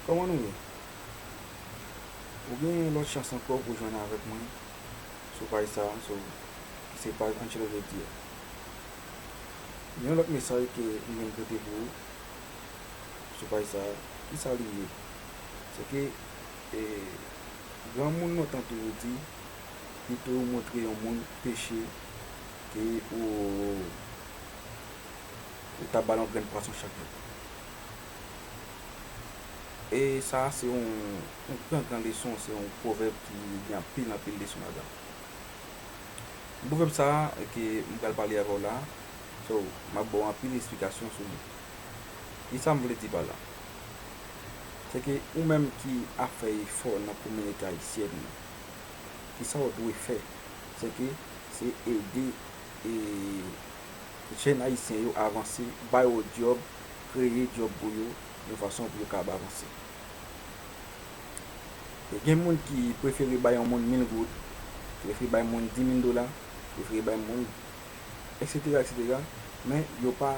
Kòman nou ye? Ou gen yon lòt chans ankò pou jwenn avèk mwen sou paj sa a, sou ki se paj Anchelo Jodi a. Gen yon lòt mesaj ke m vin pote pou ou sou paj sa a. Kisa li ye? Se ke granmoun lontan toujou di, pito ou montre yon moun peche ke ou. Ou ka bal yon grenn pwason chak jou. E sa a se yon gran gran leson, se yon pwovèb ki gen anpil anpil leson ladan l. Pwovèb sa a ke m pral pale avè w la, so, m ap ba w anpil esplikasyon sou li. Ki sa m vle di pa la? Se ke ou menm ki ap fè efò nan kominote ayisyèn nan, ki sa w dwe fè? Se ke se ede jèn ayisyen yo avanse, ba yo dyòb, kreye dyòb pou yo, yon fason pou yo kab avanse. E gen moun ki prefere bay yon moun mil goud, prefere bay moun di mil dola, prefere bay moun, eksetera, eksetera, men yo pa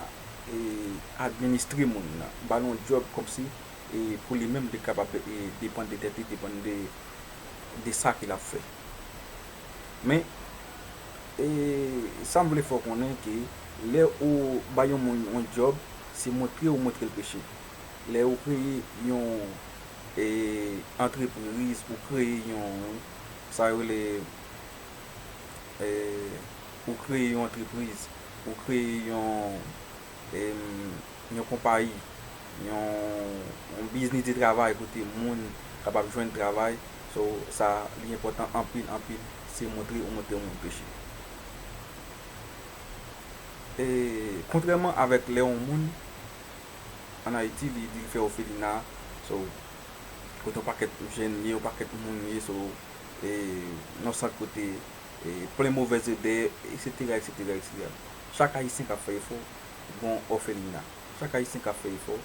administre moun nan, ba l yon dyòb kòmsi pou li menm li kapab depann de tèt li, depann de sa ke l ap fè. Men, e, sa m vle fè w konnen ke lè ou bay yon moun yon djòb, se montre ou montre l peche. Lè ou kreye yon, e, antrepriz, ou kreye yon, sa yo rele, e, ou kreye yon antrepriz, ou kreye yon, yon konpayi, yon biznis de travay kote moun kapab jwenn travay, so sa li enpòtan anpil anpil se montre ou montre moun peche. E kontrèman avèk lè yon moun an Ayiti li di l fè ofelina, so kote yon pakèt jèn ye, yon pakèt moun ye, so e yon sant kote plen movèz odè, eksetera, eksetera, eksetera. Chak Ayisyen kap fè efò gon òfelina. Chak Ayisyen kap fè efò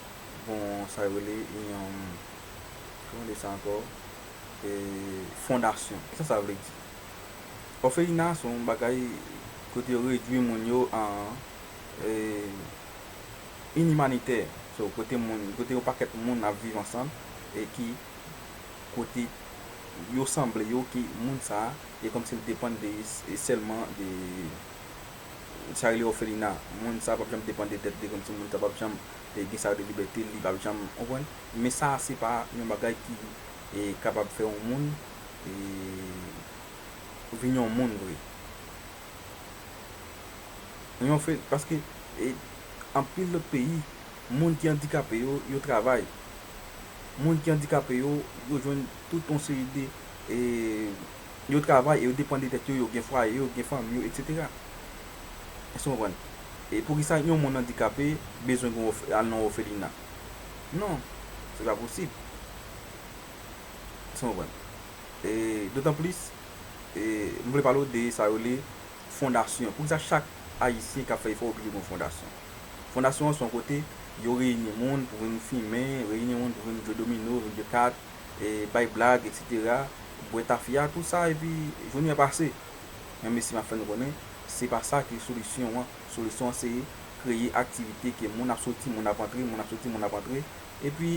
gon sa yo rele yon kòman de sa ankò fondasyon. Kisa sa vle di? Òfelina se yon bagay kote yo redwi moun yo an inimanitè. So kote moun, kote yon pakèt moun ap viv ansanm e ki kote yo sanble yo ke moun sa e kòmsi l depann de sèlman de. Sa rele òfelina. Moun sa pap janm depande tèt li kòm si moun sa pap janm gen sa rele libète li pap janm konprann. Men sa se pa yon bagay ki kapab fè yon moun vin yon moun vre. Paske anpil lòt peyi moun ki andikape yo, yo travay. Moun ki andikape yo, yo jwenn tout yon seri de. Yo travay e yo depann de tèt yo, yo gen fwaye yo, yo gen fanmi yo, etsetera. Èske nou konprann? E poukisa yon moun andikape bezwen gen yon al nan yon ofelina? Non, se pa posib. Èske nou konprann? E dotanplis, e m vle pale w de sa yo rele fondasyon. Poukisa chak Ayisyen k ap fè efò oblije gen yon fondasyon? Fondasyon an se yon kote yo reyini moun pou vin fimen, reyini moun pou vin jwe domino, vin jwe kat, bay blag etc bwè tafya tout sa epi jounen an pase men mesi map fè nou konnen se pa sa ki solisyon an solisyon an se kreye aktivite ke moun ap soti moun ap antre moun ap soti moun ap antre epi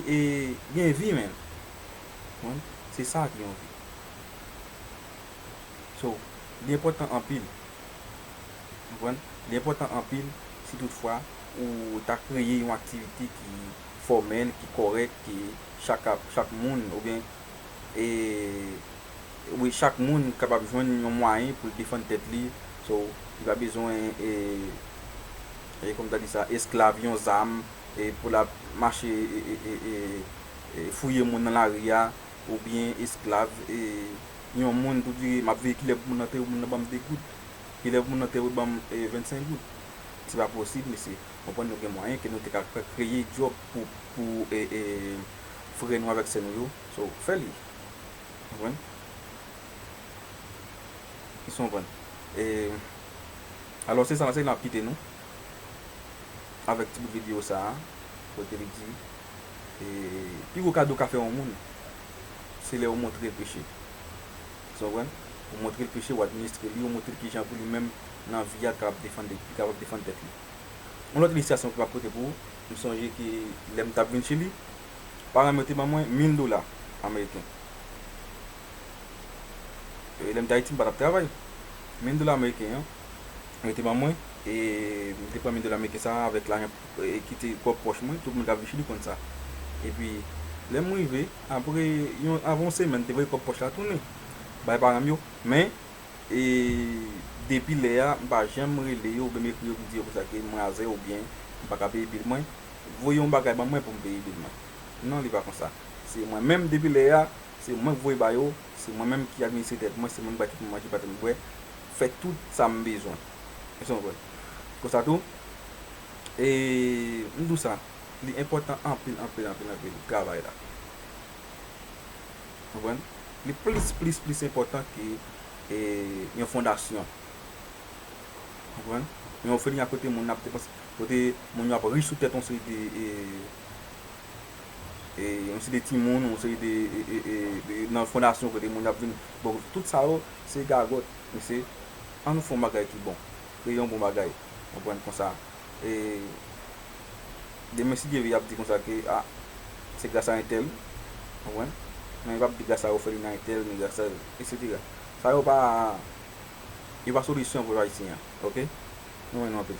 gen vi men konprann se sa ki yon vi so li enpòtan anpil konprann li enpòtan anpil si tout fwa ou ta kreye yon aktivite ki. fòmèl ki kòrèk ki chak ap chak moun oubyen e wi chak moun kapab jwenn yon mwayen pou l defann tèt li so li pa bezwen e e kòm ta di sa esklav yon zam e pou l ap mache e e e fouye moun nan lari a oubyen esklav e yon moun pou di m ap veye kilè pou moun nan tè moun nan ban m 2 goud kilè pou moun nan tè yo ban m 25 goud se pa posib mesye. Konprann nou gen mwayen ke nou te ka fè kreye job pou pou frè nou avèk sè nou yo so fè li konprann èske nou konprann e alò se sa se nap kite nou avèk ti bout video sa kote li di e pi gwo kado ou ka fè yon moun se lè ou montrel peche èske nou konprann ou montrel peche ou administre li ou montrel kijan pou li menm nan vi a li kapab defann li kapab defann tèt li. Yon lòt ilistrasyon ki pa kote pou ou, m sonje ke lè m t ap vin Chili, paran m yo te ban mwen mil dola ameriken. E lè m t Ayiti m pa t ap travay. Mil dola ameriken an, yo te ban mwen e m te pran mil dola ameriken sa a avèk lajan ki te pwòp pòch mwen, tout moun k ap vin Chili konn sa. Epi, lè m rive, apre yon, avan yon semèn, m te voye kòb pòch la tounen bay paran m yo. Men. e depi lè a m pa janm rele yo oubyen m ekri yo pou di yo konsa ke m razè oubyen m pa ka peye bil mwen, voye yon bagay ban mwen pou m peye bil mwen. Non li pa konsa. Se mwen menm depi lè a, se mwen k voye ba yo, se mwen menm ki administre tèt mwen, se mwen ki ba tèt mwen manje, ba tèt mwen bwè, fè tout sa m bezwen. Èske nou konprann? Konsa tou, e m di w sa, li enpòtan anpil, anpil, anpil, anpil travay la. Konprann? Li plis, plis, plis enpòtan ke yon fondasyon. Konprann? Yon òfelina kote moun ap depanse, kote moun yo ap ri sou tèt yon seri de, yon seri de timoun, yon seri de, nan fondasyon kote moun ap vin ba w, tout sa yo se gagòt. Mesye, an nou fè yon bagay ki bon. Kreye yon bon bagay. Konprann? Konsa, e, Demen si Dye vle y ap di konsa ke a se gras a entèl, ou konprann? Men yo p ap di gras a Ofelina entèl ni gras a eksetera. Sa yo pa yo pa solisyon pou pèp ayisyen an ok. Mwen renmen nou anpil.